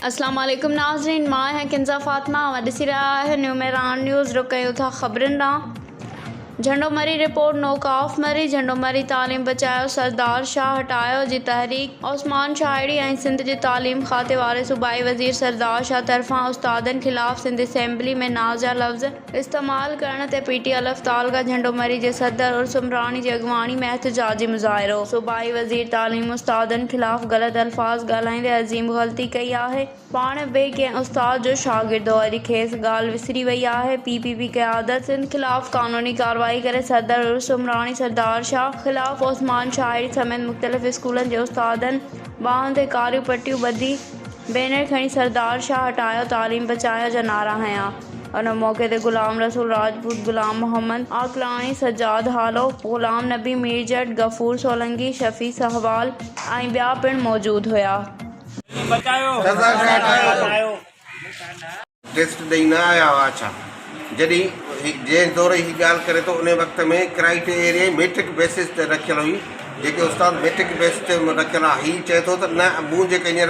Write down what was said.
السلام عليڪم ناظرين مان آهيان ڪنزا فاطمه اوهان ڏسي رهيا آهيو نيو ميران نيوز رخ ڪيو ٿا خبرن ڏانهن جهنڊو مري رپورٽ نو ڪاف مري جهنڊو مري تعليم بچايو سردار شاهه هٽايو جي تحريڪ عثمان شاهڙي ۽ سنڌ جي تعليم کاتي واري صوبائي وزير سردار شاهه طرفان استادن خلاف سنڌ اسيمبلي ۾ نازيا لفظ استعمال ڪرڻ تي پي ٽي الف تعلقه جهنڊو مري جي صدر عرس عمراڻي جي اڳواڻي ۾ احتجاجي مظاهرو. صوبائي وزير تعليم استادن خلاف غلط الفاظ ڳالهائيندي عظيم غلطي ڪئي آهي، پاڻ به ڪنهن استاد جو شاگرد هو اڄ کيس ڳالهه وسري وئي آهي، پي پي پي قيادت سنڌ خلاف قانوني ڪارروائي ڪري صدر عرس عمراڻي سردار شاهه خلاف عثمان شاهي سميت مختلف اسڪولن جي استادن ٻانهن تي ڪاريون پٽيون ٻڌي بينر کڻي سردار شاهه هٽايو تعليم بچايو جا نعرا هنيا. ان موقعي تي غلام رسول راجپوت، غلام محمد عقلاني، سجاد هالو، غلام نبي ميرجٽ، غفور سولنگي، شفيع سهوال ۽ ٻيا پڻ موجود هيا. ٽيسٽ ڏئي نه آيا هئا ڇا؟ جڏهن جنهن دور هي ڳالهه ڪري ٿو انهي وقت ۾ ڪرائيٽيريا ئي ميٽرڪ بيسز تي رکيل هئي جيڪي استاد ميٽرڪ بيس تي رکيل آهي هي چئي ٿو ته نه مون جيڪا هينئر